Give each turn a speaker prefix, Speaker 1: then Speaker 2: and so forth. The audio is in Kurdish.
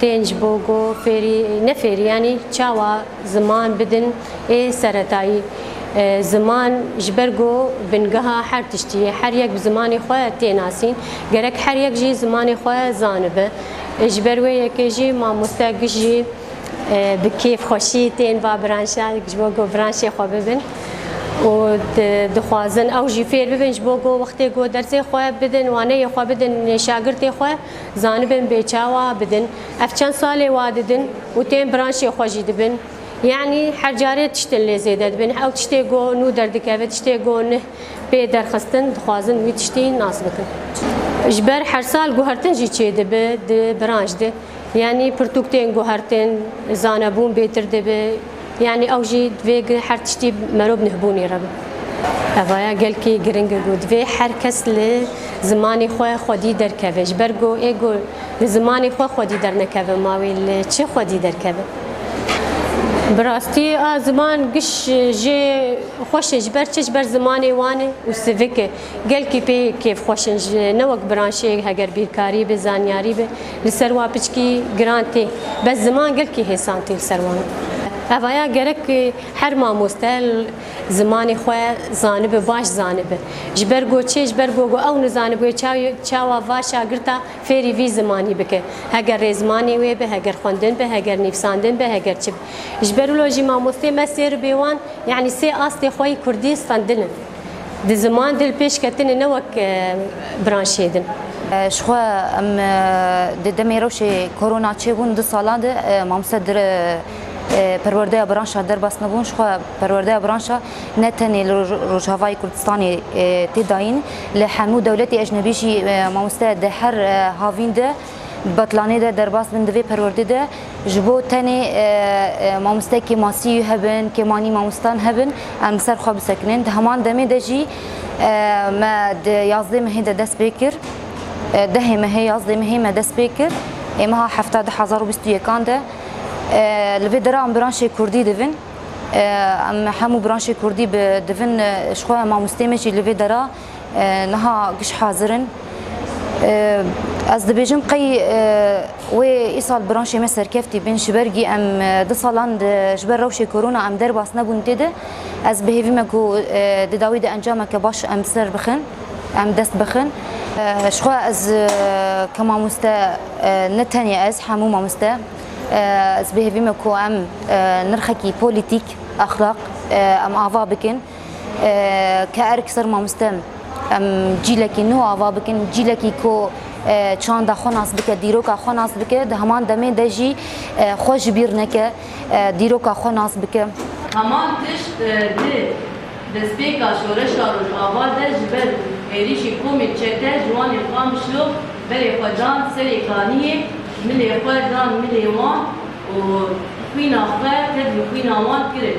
Speaker 1: tên ji bo ku fêrî ne fêrî yanî çawa ziman bidin ê seretayî. Ziman ji ber ku bingeha her tiştî ye. Her yek bi zimanê xwe tê nasîn. Gerek her yek jî zimanê xwe zanibe. Ji ber wê yekê jî mamoste giş jî bi kêf xweşî tên va branşa ji bo ku branşê xwe bibin û dixwazin ew jî fêr bibin ji bo ku wextê ku dersê xwe bidin, waneyê xwe bidin şagirtê xwe. Zanibin bê çawa bidin. Ev çend salê wa didin û tên branşê xwe jî dibin. Yanî her carê tiştin lê zêde dibin. Ew tiştê ku nû derdikeve, tiştê ku nih pê derxistin, dixwazin wî tiştî nas bikin. Ji ber her sal guhertin jî çêdibe di branş de. Yanî pirtûk tên guhertin, zanebûn bêtir dibe, Yanî ew jî divê ku her tiştî merov bi nihbûnê re be. Evaya gelkî giring e ku divê her kes li zimanê xwe xwedî derkeve. Ji ber ku ê ku li zimanê xwe xwedî dernekeve ma wê li çi xwedî derkeve. Bi rastî a ziman giş jê xweş e ji ber çi? Ji ber zimanê wan e û sivik e. Gelkî pê kêf xweş in ji ne wek biranşêyek heger bîrkarî be, zanyarî be li ser wan piçkî giran tê. Bes ziman gelkî hêsan tê li ser wan. Evaya gerek her mamoste zimanê xwe zanibe, baş zanibe. Ji ber ku çê ji ber ku ew nizanibûye çawa va şagirta fêrî vî zimanî bike. Heger rêzmanê wê be, heger xwendin be, heger nivsandin be, heger çi be. Ji ber wilo jî mamosteyê me sêr bê wan yanî sê astê xwe yê kurdî stendin in. Di ziman dil pêş ketine ne wek branşê din. Ji xwe
Speaker 2: em di demê rewşê korona çêbûn du sala de mamste dir perwerdeya branşa derbas nebûn ji xwe perwerdeya branşa ne tenê li Rojavayê Kurdistanê tê dayîn li hemû dewletê ecnebî jî mamoste di her havîn de Di betlanê de derbas bin di vê perwerdê de ji bo tenê mamostekê masîyî hebin, kêmanî mamostan hebin em li ser xwe bisekinin. Di heman demê de jî me di yazdê mehê de dest pê kir. Dehê mehê yazdê mehê me dest pê kir. Ê meha hefta di hezar û bîst û yekan de li vê dera em biranşê Kurdî divin. Em hemû biranşê Kurdî divin ji xwe mamostê me jî li vê dera Niha giş hazir in. Ez dibêjim qey wê îsal branşê me serkeftî bin ji ber gî em di salan ji ber rewşê korona em derbas nebûn tê de ez bihêvî me ku di dawî de encameke baş em ser bixin em dest bixin. Jixwe ez ke mamoste ne tenê ez hemû mamoste ez bihêvî me ku em nirxekî polîtîk, exlaq em ava bikin. Ke erk ser mamostem em cîlekî nû ava bikin cîlekî ku çanda xwe nas bike dîroka xwe nas bike di heman demê de jî xwe ji bîr neke dîroka xwe nas bike. Heman tişt
Speaker 3: di destpêka şoreşa Rojava de ji ber êrîşê komê çete ji wan ê qam şlo berê xwe dan serê kaniyê milê xwe dan milê wan û xwîna xwe tevlî xwîna wan kirin.